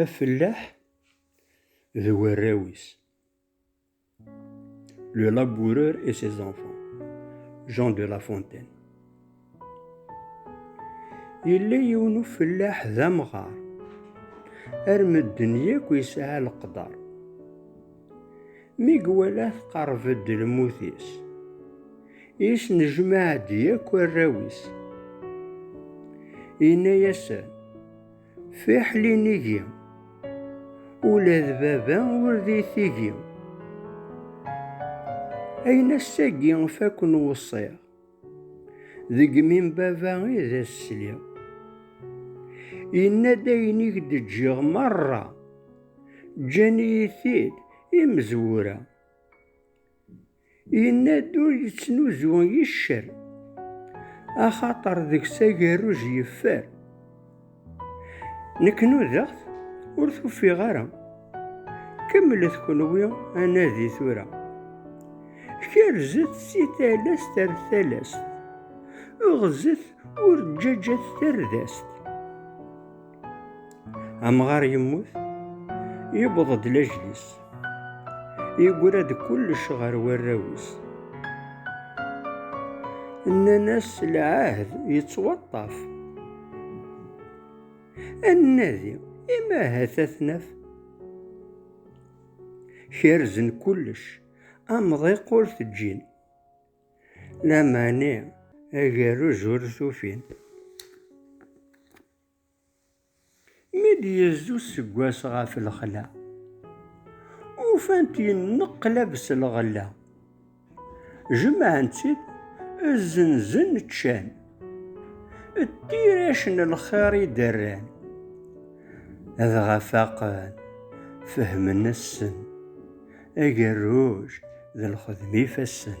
Afellaḥ d warraw-is. Le laboureur et ses enfants. Jean de La Fontaine. Yella yiwen ufellaḥ d amɣar. Ar medden yakk yesɛa leqder. Mi iwala tqerreb-d lmut-is. Yesnejmaɛ-d yakk arraw-is. Yenna-yasen, Fiḥel inigi, ula d baba ur d itigi. Ayen ass-agi fakken weṣṣiɣ, deg mi n baba i d as-sliɣ. Yenna-d ayen i k-d-ǧǧiɣ merra, ǧǧan-iyi-t-id imezwura. Yenna-d ur yettnuzu i ccer, axaṭer deg-s agerruj yeffer. Nekk nudaɣ-t ur t-ufiɣ ara, kemmlet kenwi anadi tura. Kerzet si talast ar talast, ɣzet ur ǧǧaǧat tardast. Amɣar yemmut, yewweḍ-d lajlis. Yegra-d kullec ɣer warraw-is. Nnan-as lɛahd yettwaṭṭaf. Ad nadi, ima ahat ad t-naf. Kerzen kullec, amḍiq ur t-ǧǧin. Lamani agerrez ur t-ufin. Mi d-yezzi useggas ɣef lexla, ufan-t yenneqlab s lɣella. Jemɛen-tt-id, zzenzen, ččan. D tirac n lxir i d-rran. Dɣa faqen, fehmen assen. Agerruj d lxedm ifassen.